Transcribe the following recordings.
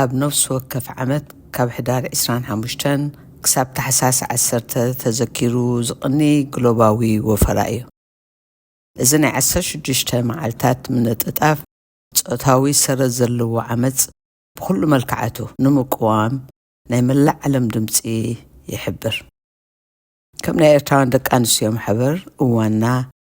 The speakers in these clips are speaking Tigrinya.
ኣብ ነፍሲ ወከፍ ዓመት ካብ ሕዳር ዕስራን ሓሙሽተን ክሳብ ታሕሳስ ዓሰርተ ተዘኪሩ ዝቕኒ ግሎባዊ ወፈራ እዩ። እዚ ናይ ዓሰርተ ሽዱሽተ መዓልታት ምንጥጣፍ ጾታዊ ሰረት ዘለዎ ዓመጽ ብኹሉ መልክዓቱ ንምቅዋም ናይ መላእ ዓለም ድምጺ ይሕብር። ከም ናይ ኤርትራውያን ደቂ ኣንስትዮ ማሕበር እዋንና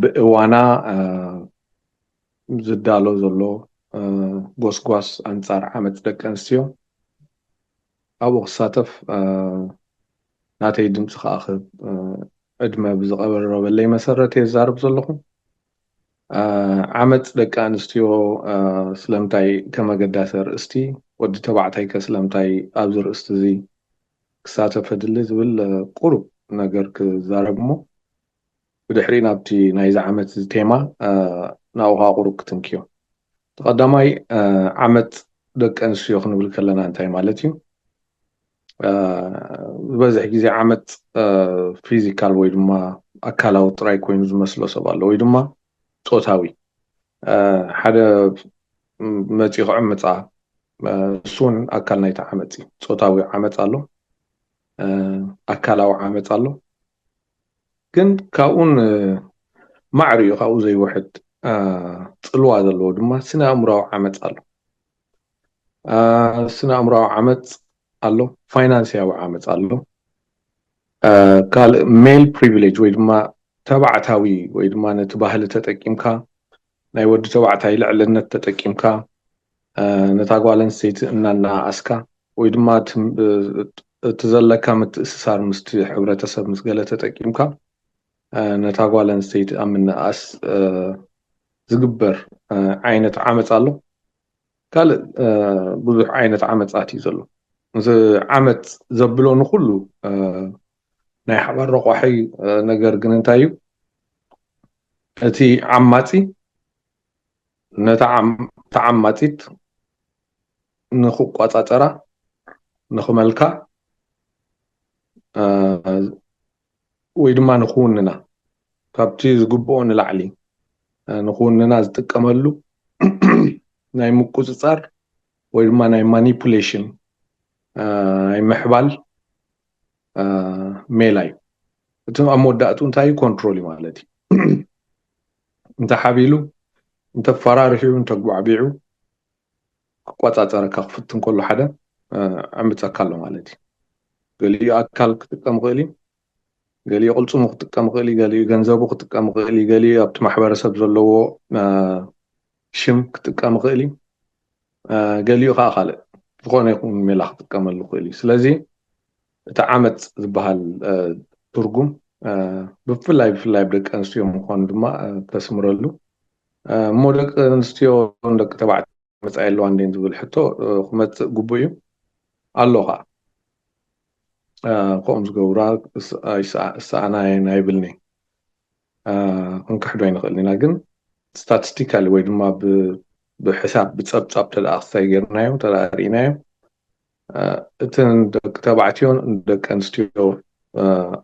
ብእዋና ዝዳሎ ዘሎ ጎስጓስ ኣንጻር ዓመጽ ደቂ ኣንስትዮ ኣብኡ ክሳተፍ ናተይ ድምጺ ከኣ ክህብ ዕድመ ብዝቐረበለይ መሰረት እየ ዝዛረብ ዘለኹ። ዓመጽ ደቂ ኣንስትዮ ስለምንታይ ከም ኣገዳሲ ኣርእስቲ፣ ወዲ ተባዕታይ ከ ስለምንታይ ኣብዚ ርእስቲ እዚ ክሳተፍ ኣድሊ ዝብል ቁሩብ ነገር ክዛረብ እሞ ብድሕሪ ናብቲ ናይዚ ዓመት እዚ ቴማ ናብኡ ከኣ ቁሩብ ክትንክዮ። እቲ ቀዳማይ ዓመት ደቂ ኣንስትዮ ክንብል ከለና እንታይ ማለት እዩ? ዝበዝሕ ግዜ ዓመት ፊዚካል ወይ ድማ ኣካላዊ ጥራይ ኮይኑ ዝመስሎ ሰብ ኣሎ ወይ ድማ ጾታዊ ሓደ መጺኡ ክዕምጻ እሱ እውን ኣካል ናይቲ ዓመፅ እዩ ፆታዊ ዓመፅ ኣሎ ኣካላዊ ዓመፅ ኣሎ ግን ካብኡን ማዕር እዩ ካብኡ ዘይውሕድ ጽልዋ ዘለዎ ድማ ስነ ኣእምራዊ ዓመጽ ኣሎ ስነ ኣእምራዊ ዓመጽ ኣሎ ፋይናንስያዊ ዓመጽ ኣሎ ካልእ ሜል ፕሪቪሌጅ ወይ ድማ ተባዕታዊ ወይ ድማ ነቲ ባህሊ ተጠቂምካ ናይ ወዲ ተባዕታይ ልዕልነት ተጠቂምካ ነታ ጓል ኣንስተይቲ እናነኣኣስካ ወይ ድማ እቲ ዘለካ ምትእስሳር ምስቲ ሕብረተሰብ ምስ ገለ ተጠቂምካ ነታ ጓል ኣንስተይቲ ኣብ ምንእኣስ ዝግበር ዓይነት ዓመፅ ኣሎ። ካልእ ብዙሕ ዓይነት ዓመፃት እዩ ዘሎ። እዚ ዓመፅ ዘብሎ ንኹሉ ናይ ሓባር ረቋሒ ነገር ግን እንታይ እዩ እቲ ዓማፂ ነታ ተዓማፂት ንክቆፃፀራ ንክመልካ ወይ ድማ ንክውንና ካብቲ ዝግብኦ ንላዕሊ ንክውንና ዝጥቀመሉ ናይ ምቁፅፃር ወይ ድማ ናይ ማኒፑሌሽን ናይ ምሕባል ሜላ እዩ እቲ ኣብ መወዳእትኡ እንታይ እዩ ኮንትሮል እዩ ማለት እዩ እንተሓቢሉ እንተፈራርሑ እንተጓዕቢዑ ክቆፃፀረካ ክፍትን ከሎ ሓደ ዕምፀካ ኣሎ ማለት እዩ ገሊኡ ኣካል ክጥቀም ይኽእል እዩ ገሊኡ ቅልፅሙ ክጥቀም ይኽእል እዩ ገሊኡ ገንዘቡ ክጥቀም ይኽእል እዩ ገሊኡ ኣብቲ ማሕበረሰብ ዘለዎ ሽም ክጥቀም ይኽእል እዩ ገሊኡ ከኣ ካልእ ዝኾነ ይኹን ሜላ ክጥቀመሉ ይኽእል እዩ። ስለዚ እቲ ዓመጽ ዝበሃል ትርጉም ብፍላይ ብፍላይ ኣብ ደቂ ኣንስትዮ ምዃኑ ድማ ተስምረሉ እሞ ደቂ ኣንስትዮ ደቂ ተባዕትዮ መጻኢ ኣለዋ እንዴን ዝብል ሕቶ ክመጽእ ግቡእ እዩ ኣሎ ከዓ ከምኡ ዝገብራ ይሰኣና እየን ኣይብልኒ ክንክሕዶ ኣይንኽእልን ኢና ግን ስታትስቲካሊ ወይ ድማ ብሕሳብ ብጸብጻብ ተደኣ ክሳይ ጌርናዮ ተደኣ ርኢናዮ እተን ደቂ ተባዕትዮን ደቂ ኣንስትዮ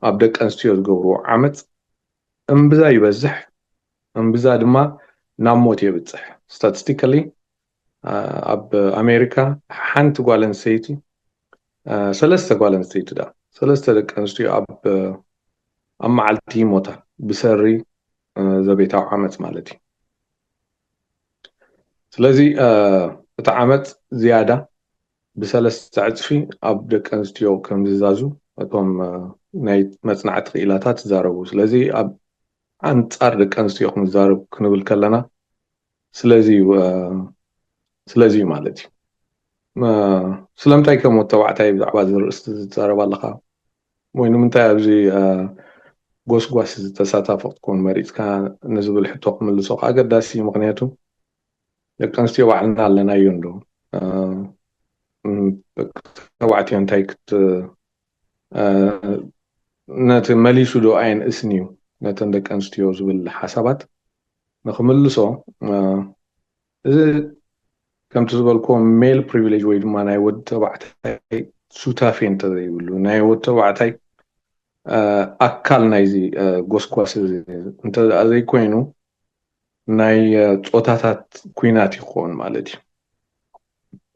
ኣብ ደቂ ኣንስትዮ ዝገብርዎ ዓመፅ እምብዛ ይበዝሕ እምብዛ ድማ ናብ ሞት የብፅሕ ስታትስቲካሊ ኣብ ኣሜሪካ ሓንቲ ጓል ኣንስተይቲ ሰለስተ ጓል ኣንስተይቲ ዳ ሰለስተ ደቂ ኣንስትዮ ኣብ ኣብ መዓልቲ ይሞታ ብሰሪ ዘቤታዊ ዓመፅ ማለት እዩ ስለዚ እቲ ዓመፅ ዝያዳ ብሰለስተ ዕፅፊ ኣብ ደቂ ኣንስትዮ ከም ዝዛዙ እቶም ናይ መፅናዕቲ ክኢላታት ይዛረቡ ስለዚ ኣብ ኣንፃር ደቂ ኣንስትዮ ክንዛረብ ክንብል ከለና ስለዚ እዩ ስለዚ እዩ ማለት እዩ ስለምንታይ ከም ወዲ ተባዕታይ ብዛዕባ እዚ ርእስቲ ዝዛረብ ኣለኻ ወይ ንምንታይ ኣብዚ ጎስጓስ እዚ ተሳታፊ ክትኮን መሪፅካ ንዝብል ሕቶ ክምልሶ ከዓ ኣገዳሲ እዩ ምክንያቱ ደቂ ኣንስትዮ ባዕልና ኣለናዮ እንዶ ደቂ ተባዕትዮ እንታይ ክት ነቲ መሊሱ ዶ ኣየንእስን እዩ ነተን ደቂ ኣንስትዮ ዝብል ሓሳባት ንክምልሶ እዚ ከምቲ ዝበልክዎ ሜል ፕሪቪሌጅ ወይ ድማ ናይ ወዲ ተባዕታይ ሱታፌ እንተዘይብሉ ናይ ወዲ ተባዕታይ ኣካል ናይዚ ጎስጓስ እዚ እንተ ዘይኮይኑ ናይ ፆታታት ኩናት ይኸውን ማለት እዩ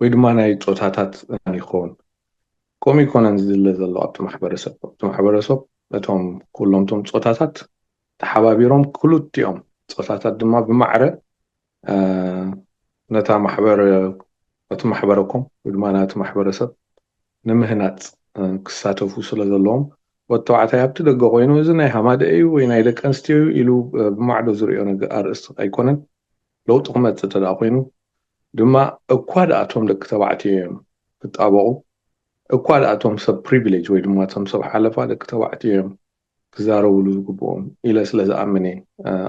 ወይ ድማ ናይ ጾታታት እማን ይኸውን። ከምኡ ኣይኮነን ዝድለ ዘሎ ኣብቲ ማሕበረሰብ። ኣብቲ ማሕበረሰብ እቶም ኩሎም'ቶም ጾታታት ተሓባቢሮም ክልቲኦም ጾታታት ድማ ብማዕረ ነታ ማሕበር ነቲ ማሕበረኮም ወይ ድማ ነቲ ማሕበረሰብ ንምህናጽ ክሳተፉ ስለ ዘለዎም ወዲ ተባዕታይ ኣብቲ ደገ ኮይኑ እዚ ናይ ሃማደኤ እዩ ወይ ናይ ደቂ ኣንስትዮ እዩ ኢሉ ብማዕዶ ዝሪኦ ኣርእስቲ ኣይኮነን ለውጢ ክመጽእ እንተደኣ ኮይኑ ድማ እኳ ድኣ እቶም ደቂ ተባዕትዮ እዮም ክጣበቑ እኳ ድኣ እቶም ሰብ ፕሪቪለጅ ወይ ድማ እቶም ሰብ ሓለፋ ደቂ ተባዕትዮ እዮም ክዛረብሉ ዝግብኦም ኢለ ስለ ዝኣምን እየ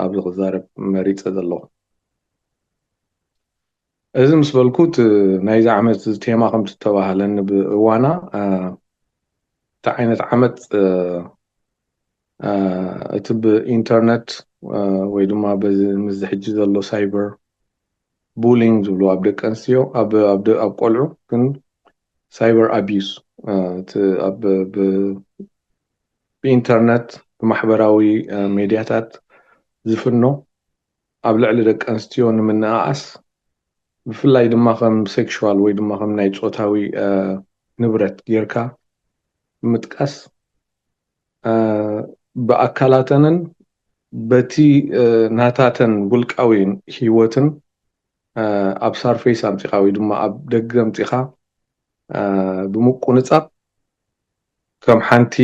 ኣብዚ ክዛረብ መሪጸ ዘለኹ እዚ ምስ በልኩ እቲ ናይዚ ዓመት ቴማ ከምቲ ዝተባህለኒ ብእዋና እቲ ዓይነት ዓመት እቲ ብኢንተርነት ወይ ድማ በዚ ምስዚ ሕጂ ዘሎ ሳይበር ቡሊንግ ዝብልዎ ኣብ ደቂ ኣንስትዮ ኣብ ኣብ ኣብ ቆልዑ ግን ሳይበር ኣቢዩስ እቲ ኣብ ብ ብኢንተርነት ብማሕበራዊ ሜድያታት ዝፍኖ ኣብ ልዕሊ ደቂ ኣንስትዮ ንምንእኣስ ብፍላይ ድማ ከም ሴክሹዋል ወይ ድማ ከም ናይ ጾታዊ ንብረት ጌርካ ብምጥቃስ ብኣካላተንን በቲ ናታተን ውልቃዊ ህይወትን ኣብ ሳርፌስ ኣምጺኻ ወይ ድማ ኣብ ደገ ኣምጺኻ ብምቁንጻብ ከም ሓንቲ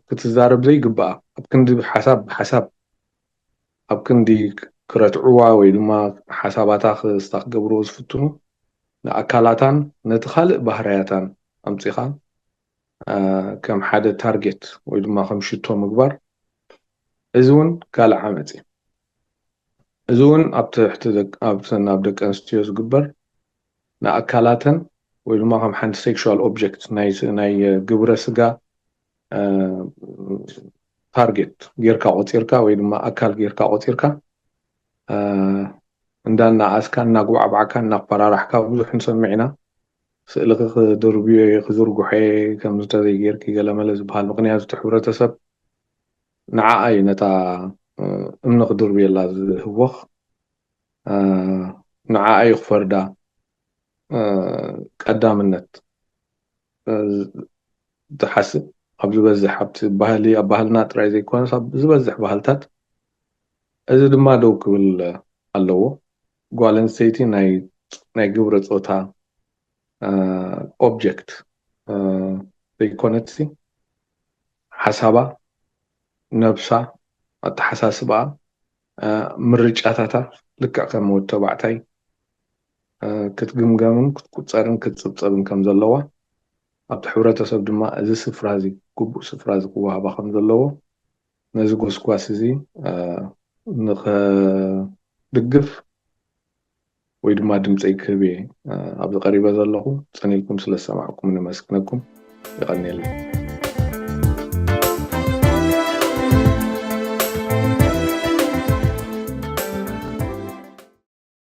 ክትዛረብ ዘይግብኣ ኣብ ክንዲ ሓሳብ ብሓሳብ ኣብ ክንዲ ክረትዕዋ ወይ ድማ ሓሳባታ ክስታ ክገብርዎ ዝፍትኑ ንኣካላታን ነቲ ካልእ ባህርያታን ኣምጺኻ ከም ሓደ ታርጌት ወይ ድማ ከም ሽቶ ምግባር እዚ እውን ካልእ ዓመፅ እዩ። እዚ እውን ኣብ ትሕቲ ኣብተን ኣብ ደቂ ኣንስትዮ ዝግበር ንኣካላተን ወይ ድማ ከም ሓንቲ ሴክሹዋል ኦብጀክት ናይ ግብረ ስጋ ታርጌት ጌርካ ቆፂርካ ወይ ድማ ኣካል ጌርካ ቆፂርካ እንዳናኣስካ እናጉባዕባዕካ እናፈራራሕካ ብዙሕ ንሰምዕ ኢና ስእልኺ ክድርብዮ እየ ክዝርግሖ እየ ከምዚ ተዘይ ጌርኪ ገለመለ ዝብሃል ምኽንያቱ እቲ ሕብረተሰብ ንዓኣ እዩ ነታ እምኒ ክድርብየላ ዝህወኽ ንዓኣ እዩ ክፈርዳ ቀዳምነት ዝሓስብ ኣብ ዝበዝሕ ኣብቲ ባህሊ ኣብ ባህልና ጥራይ ዘይኮነስ ኣብ ዝበዝሕ ባህልታት እዚ ድማ ደው ክብል ኣለዎ ጓል ኣንስተይቲ ናይ ግብረ ፆታ ኦብጀክት ዘይኮነትሲ ሓሳባ፣ ነብሳ፣ ኣተሓሳስባኣ፣ ምርጫታታ ልክዕ ከም ወዲ ተባዕታይ ክትግምገምን ክትቁፀርን ክትፅብፀብን ከም ዘለዋ ኣብቲ ሕብረተሰብ ድማ እዚ ስፍራ እዚ ግቡእ ስፍራ እዚ ክወሃባ ከም ዘለዎ ነዚ ጎስጓስ እዚ ንኸድግፍ ወይ ድማ ድምፀይ ክህብ እየ ኣብዚ ቀሪበ ዘለኹ ፅን ኢልኩም ስለ ዝሰማዕኩምኒ መስግነኩም ይቐኒየለይ